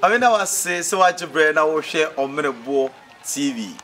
Ame na wase sɛ wagye berɛ na wohwɛ Ɔmmerɛboɔ TV.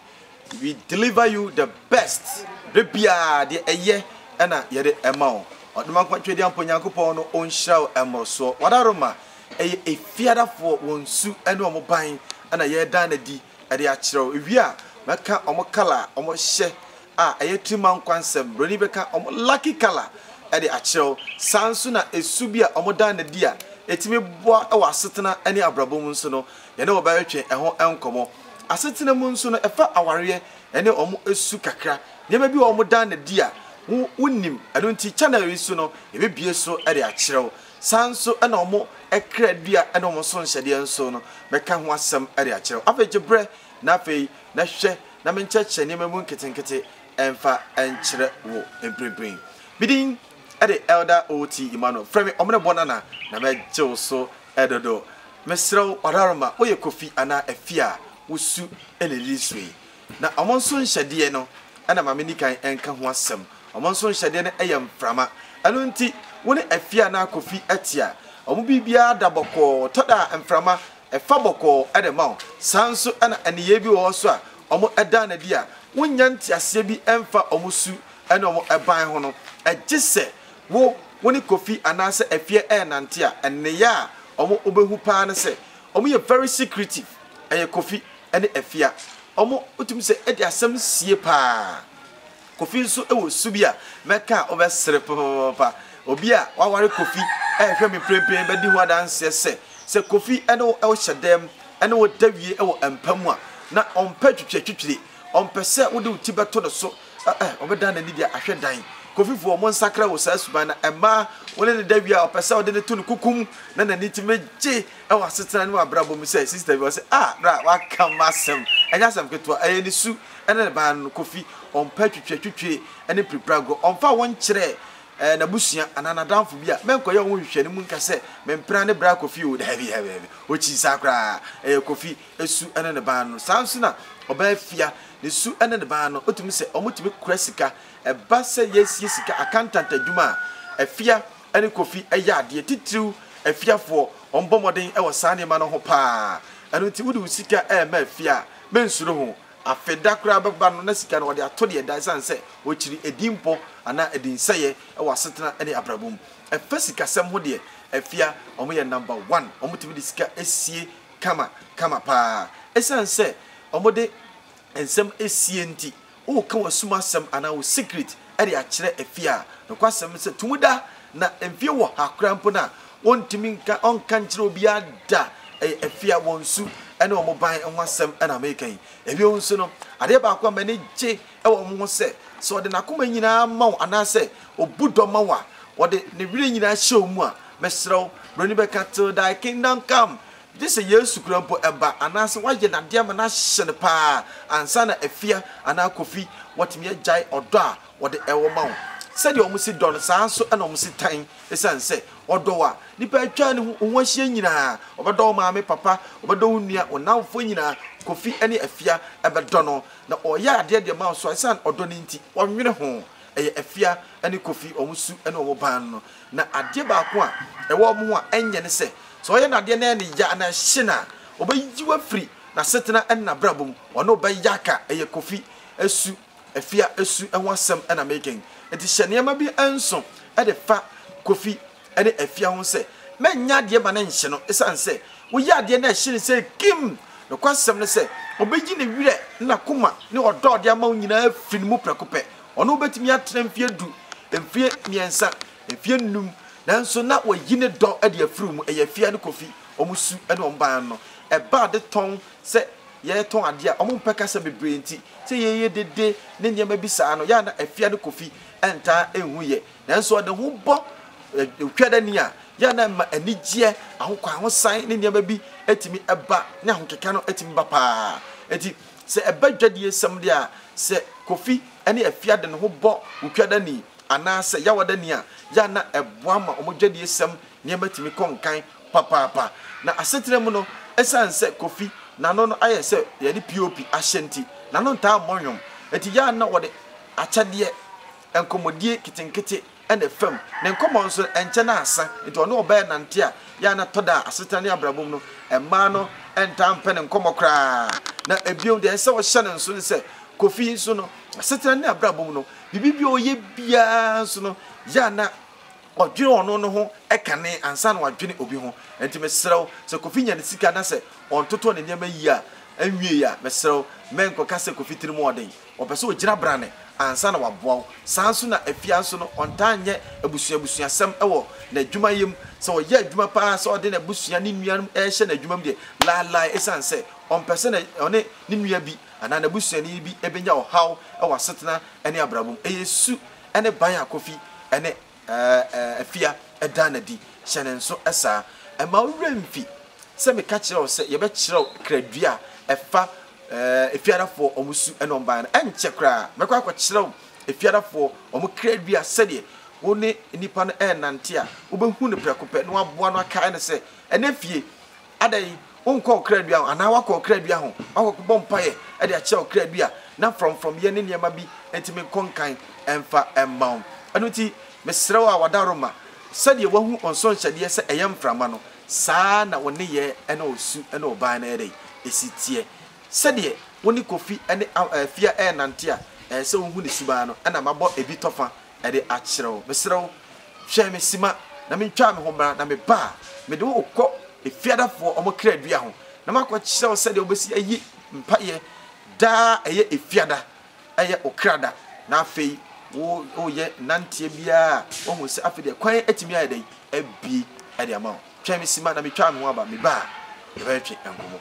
We deliver you the best. Berɛ biara deɛ ɛyɛ ɛna yɛde ɛma wo. Ɔdoma nkwa ntwɛdeɛ ampa Onyankopɔn no ɔnhyira wo mmorosoɔ. Wadaroma Ɛyɛ afiadafoɔ, wɔn su ne wɔn ban na yɛreda no adi de akyerɛ wo. Ewie a, mɛka wɔn colour a wɔhyɛ a ɛyɛ tirimankwa nsɛm. Buroni bɛka wɔn lucky colour de akyerɛ wo. Saa ara nso na su bi a wɔda no adi a ɛtumi boa wɔ asetena ne abrabɔ mu nso no, yɛne wɔn bɛtwe ɛho nkɔmmɔ. Asetena mu nso no, ɛfa awareɛ ne wɔn su kakra. Nneɛma bi wɔ hɔ a wɔda no adi a wonim. Ɛno nti, channel yi so no, yɛbɛbue so de akyerɛ wo. Saa ara nso na wɔn kra dua ne wɔn so nhyɛdeɛ nso no, mɛka ho asɛm de akyerɛ wo. Afei gye berɛ, na afei, na hwɛ na menkyerɛkyerɛ nneɛma mu nketenkete mfa nkyerɛ wo mprempren. Me din de Elder O. T. Emmanuel. Frɛ me Ɔmenebɔ Nana, na mɛgye wo so dodo. Mesrɛ wo, Wararo ma woyɛ Kofi anaa Afia a wosu na ɛdidi so yi. Na wɔn nso nhyɛdeɛ no na ma menni kan nka ho asɛm. Wɔn nso nhyɛdeɛ no yɛ mframa. Ɛno nti, wo ne afie anaa kofi te a, wɔn biribiara da bɔkɔɔ. Ɛtɔ da a, mframa fa bɔkɔɔ na ɛma wo. Saa ara nso na nneyɛeɛ bi wɔ hɔ nso a wɔdaa no adi a wonnya nteaseɛ bi mfa wɔn su ne wɔn ban ho no. Gye sɛ wo wo ne kofi anaasɛ afie renante a, nneyɛeɛ a wobɛhu pa ara ne sɛ wɔyɛ very secretive. Ɛyɛ Kofi ne Afia. Wɔtumi sɛ de asɛm sie paa. Kofi nso wɔ su bi a mɛka a wobɛsere papaapa. Obi a waware Kofi rehwɛ me mprempren bɛdi ho adanseɛ sɛ, sɛ Kofi ne wo hyɛ dan mu ne wo da wie wɔ mpa mu a, na ɔmpɛ twitwiritwitwiri. Ɔmpɛ sɛ wode wo ti bɛto ne so. Ɛ ɛ, ɔbɛdan n'ani de ahwɛ dan. Kofifoɔ, monsakra wɔ saa suban no. Mmaa, wo ne no da wie a, ɔpɛ sɛ wode no to ne kuku mu na n'ani tumi gye. wɔ asetena ne w'abrabɔ mu sɛ sister bi ɔse ah bra w'aka m'asɛm ɛnyɛ asɛm ketewa ɛyɛ ne su ɛna ne ban no kofi ɔmpɛ twitwe twitwe ɛne pirepire agorɔ ɔmfa wo nkyerɛ ɛɛ n'abusua anaa n'adamfo bi a mɛnkɔyɛ ɔho hwehwɛ ne mu nka sɛ mempena ne bra kofi o daabi daabi daabi ɔkyi saa koraa ɛyɛ kofi ɛsu ɛne ne ban no saa nso na ɔbaa fia ne su ɛne ne ban no ɔtumi sɛ ɔmotumi kora sika ɛba sɛ yɛsie sika accountant adwuma a afia ne Kofi yɛ adeɛ, titiriw afiafoɔ, wɔbɔ mmɔden wɔ saa nneɛma no ho pa ara. Ɛno nti, wode wo sika rema afie a, mensuro ho. Afe da koraa bɛba no, na sika no wɔde ato deɛ ɛda esiane sɛ wɔkyiri edinpɔ anaa edinsɛeɛ wɔ asetena ne abrabɔ mu. Ɛfa sikasɛm ho deɛ, afia, wɔyɛ number one, wɔtumi de sika sie kama kama pa ara. Esiane sɛ wɔde nsɛm sie nti, Woka w'asum asɛm anaa wo secret de akyerɛ afie a, nokwasɛm ne sɛ tumi da, na mfeɛ wɔ ha koraa mpo no a, wɔntumi nka, ɔnka nkyerɛ obiara da. Ɛyɛ afie a wɔn su ne wɔn ban ho asɛm na meka yi. Ɛbio nso no, adeɛ baako a m'ani gye wɔ wɔn ho sɛ, sɛ ɔde n'akoma nyinaa ma wo anaasɛ ɔbu dɔ ma wo a, ɔde ne werɛ nyinaa hyɛ wo mu a, mesrɛ wo, Buroni bɛka till thy kingdom come, Gye sɛ Yesu kura mpo ɛba anaasɛ wayɛ n'adeɛ ama no ahyɛ no pa ara ansa na Afia anaa Kofi watumi agyae ɔdɔ a wɔde ɛwɔ ma wo. Sɛdeɛ wɔn si dɔ no, saa ara nso na wɔn si tan. Ɛsiane sɛ ɔdɔ wo a, nnipa a atwa ne ho ahyia nyinaa, ɔbɛdɔ wo maame, papa, ɔbɛdɔ wo nua, wo nnamfoɔ nyinaa, Kofi ne Afia bɛdɔ no, na ɔreyɛ adeɛ de ama wo so a, ɛsiane ɔdɔ no nti, wɔnnwene ho. ɛyɛ Afia ne Kofi wɔn su ne wɔn ban no. Na adeɛ baako a ɛwɔ wɔn ho a ɛnyɛ ne sɛ, sɛ ɔyɛ n'adeɛ na ɛyɛ no ya anaa ɛhye no a, ɔbɛyi wo afiri n'asetena ne n'abrabɔ mu. Ɔne wo bɛyɛ aka. Ɛyɛ Kofi su, Afia su ho asɛm na mereka yi. Enti hyɛ nneɛma bi nso de fa Kofi ne afia ho sɛ, Mɛnyɛ adeɛ ma no nhye no, ɛsiane sɛ woyɛ adeɛ na ɛhye no sei kim! Nokwasɛm ne sɛ, ɔbɛyi ne werɛ ne n'akoma ne ɔdɔ a ɔde ama wo nyinaa afiri ne mu prɛko pɛ. Ɔne wo bɛtumi atena mfeɛ du, mfeɛ mmiɛnsa, mfeɛ nnum, nanso na wayi ne dɔ de afiri wo mu. Ɛyɛ afia ne Kofi, wɔn su ne wɔn ban no. Ɛbaa de tɔn sɛ yɛretɔn adeɛ a wɔmpɛ kasa bebree nti, sɛ yɛyɛ dede ne nneɛma bi saa no, yɛ a na afia ne Kofi ntaa nhu yɛ. Nanso ɔde ho bɔ Ɔtwɛrani a, yɛ a na ɛma anigyeɛ, ahokwan, ahosan ne nneɛma bi tumi ba, ne ahokeka no tumi ba pa ara. Enti sɛ ɛba dwadiesɛm deɛ a, sɛ Kofi ne Afia de ne ho bɔ Otwɛrani anaasɛ Yawadani a, yɛ a na ɛboa ma wɔn dwadiesɛm nneɛma tumi kɔ nkan papaapa. Na asetena mu no, ɛsiane sɛ Kofi n'ano no ayɛ sɛ deɛ yɛde POP ahyɛ nti, n'ano ntaa mmɔ nnwom. Enti yɛ a na wɔde akyɛdeɛ Nkɔmmɔdie nketenkete na ɛfa mu. Ne nkɔmmɔ nso, ɛnkyɛ na asa. Enti ɔne ɔbaa renante a, yɛ a na ɛtɔ da a, asetena ne abrabɔ mu no, mmaa no ntaa mpɛ ne nkɔmmɔ koraa. Na bio, deɛ ɛsɛ sɛ wɔhyɛ no nsoɔ ne sɛ, Kofi nso no, n'asetena ne abrabɔ mu no, biribi bi a ɔyɛ biara nso no, yɛ a na ɔdwene ɔno no ho kane ansa na wadwene obi ho. Enti mesrɛ wo, sɛ Kofi nya ne sika na sɛ ɔntotɔ ne nneɛma yie a, ɛnwieeɛ a, mesrɛ wo, mɛnkɔka sɛ Kofi tirim wɔ den. Ɔpɛ sɛ ɔgyina brane ansa na waboa wo. Saa ara nso na Afia nso no, ɔntaa nyɛ abusua abusuasɛm wɔ n'adwumayɛ mu. Sɛ ɔyɛ adwuma pa ara sɛ ɔde n'abusua, ne nuanom rehyɛ no adwuma mu deɛ, laelae ɛsiane sɛ ɔmpɛ sɛ ɔne ne nua bi anaa n'abusuani bi bɛnya ɔhaw wɔ asetena ne abrabɔ mu. Ɛyɛ su ne ban a Kofi ne Afia, ɛdaa no adi. Hyɛ no nso saa. Mma wo werɛ mfi sɛ meka kyerɛɛ wo sɛ yɛbɛkyerɛw kradua a ɛfa Efiadafoɔ wɔn su ne wɔn ban no. Ɛnkyɛ koraa, mɛkɔ akɔkyerɛw Efiadafoɔ wɔn kradua sɛdeɛ wo ne nnipa no renante a, wobɛhu no prɛko pɛ na woaboa no akae no sɛ ɛnɛ fie. Adɛn, wonkɔ ɔkra dua ho? Anaa woakɔ ɔkra dua ho? Woakɔbɔ mpaeɛ de akyerɛ ɔkra bi a na frɔmfrɔmyɛ ne nneɛma bi nti menkɔ nkan mfa mma wo? Ɛno nti, mesrɛ wo a wada Roma, sɛdeɛ woahu nsõ nhyɛdeɛ sɛ ɛyɛ mframa no, saa ara na wo nneyɛɛ ne wo su ne wo ban no yɛ dɛn? Ɛsi teɛ. Sɛdeɛ wo ne Kofi ne Afia renante a, ɛsɛ sɛ wohu ne suban no, ɛnna mabɔ ebi tɔfa de akyerɛ wo. Mesrɛ wo, hwɛ me sima na mentwaa me ho mmra, na meba a, mede wo rekɔ Efiadafoɔ wɔn kradua ho, na makɔkyerɛ wo sɛdeɛ wobɛsi ayi mpaeɛ daa ɛyɛ Efiada, ɛyɛ wo kra da, na afei wo, woyɛ nanteɛ biara a, woahu sɛ afei deɛ kwan atumi ayɛ dɛn? Abue de ama wo. Twɛn me simma na metwa ano aba, meba a, yɛbɛtwetwe nkɔmmɔ.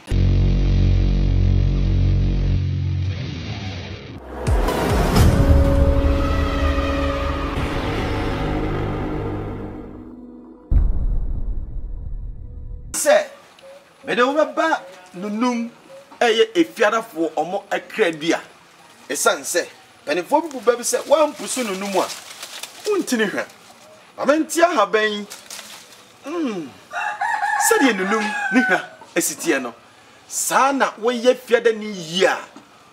Sɛ mede wo bɛba nnonom a ɛyɛ afiadafoɔ wɔn akradua, ɛsiane sɛ. Mpanimfoɔ bi bu ba bi sɛ woampusu no no mu a, wonti no hwa. Ma mente ahaban yi. Mm. Sɛdeɛ nunum ne hwa si teɛ no, saa na woyɛ fiadani yie a,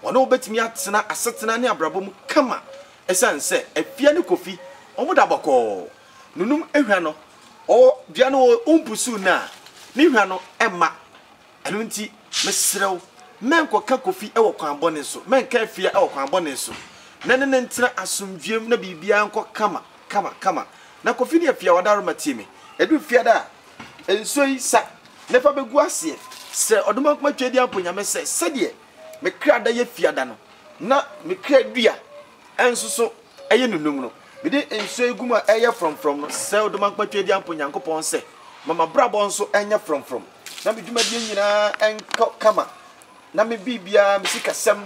wɔne wo bɛtumi atena asetena ne abrabɔ mu kama ɛsiane sɛ Afia ne Kofi wɔda bɔkɔɔ. Nunum hwa no, ɔwɔ dua no, wompusu no a, ne hwa no mma Ɛno nti, mesrɛ wo, mɛnkɔka Kofi wɔ kwan bɔne so, mɛnka Afia wɔ kwan bɔne so, na yɛne no ntena asomdwoeɛm na biribiara nkɔ kama kama kama. Na Kofi ne Afia wɔadaworoma tie me. Ɛduru Fiada a, nsuo yi sa na fa bɛgu aseɛ. Srɛ Ɔdomankoma Tweaduampɔ Nyame sɛ sɛdeɛ me kra da yɛ Fiada no, na me kra dua ɛnsoso ɛyɛ nunum no, mede nsuo egum a ɛyɛ frɔmfrɔm no srɛw de mankpatwa adi ampo Nyankopɔn sɛ ma mabrabɔ nso ɛnyɛ frɔmfrɔm na me dwumadie nyinaa nkɔ kama na me biribiara, me sikasɛm,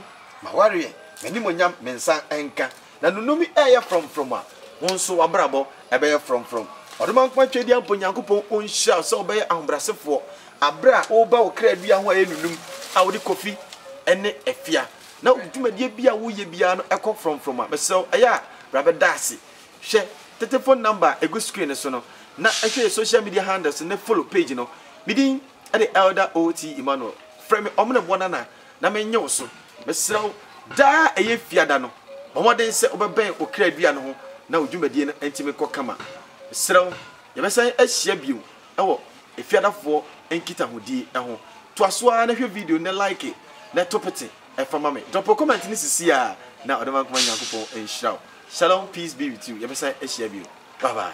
mawareɛ, m'animuonyam, me nsa nka na nunum yi ɛyɛ frɔmfrɔm a, wo nso wabrabɔ ɛbɛyɛ frɔmfrɔm. Ɔdomankpatwa adi ampo Nyankopɔn ɔnhyira wo sɛ wobɛyɛ ahobrasefoɔ aberɛ a woreba wo kra dua ho a ɛyɛ nunum a wode kɔfi ɛne ɛfea. na wo dwumadie biara a woyɛ biara no kɔ frɔmfrɔm a, mesrɛ wo, ɛyɛ a bra bɛda ase. Hwɛ tete phone number a ɛgu screen no so no, na hwɛ yɛn social media handles no ne follow page no. Me din de Elder OT. Emmanuel. Frɛ me Ɔmenebɔ Nana na mennye wo so. Mesrɛ wo, daa a ɛyɛ Fiada no, bɔ mmɔden sɛ wobɛbɛn Ɔkra Dua no ho na wo dwumadie no ntumi nkɔ kama. Mesrɛ wo, yɛbɛsan ahyia bio wɔ efiadafoɔ nkitahodi ho. Toa so ara na hwɛ video no na like na to pete fa ma me. Drop wo comment no sisiaa na Ɔdɔ Mankoma Nyankopɔn nhyira wo. Shalom peace be with you yɛbɛsan ahyia bio bye bye.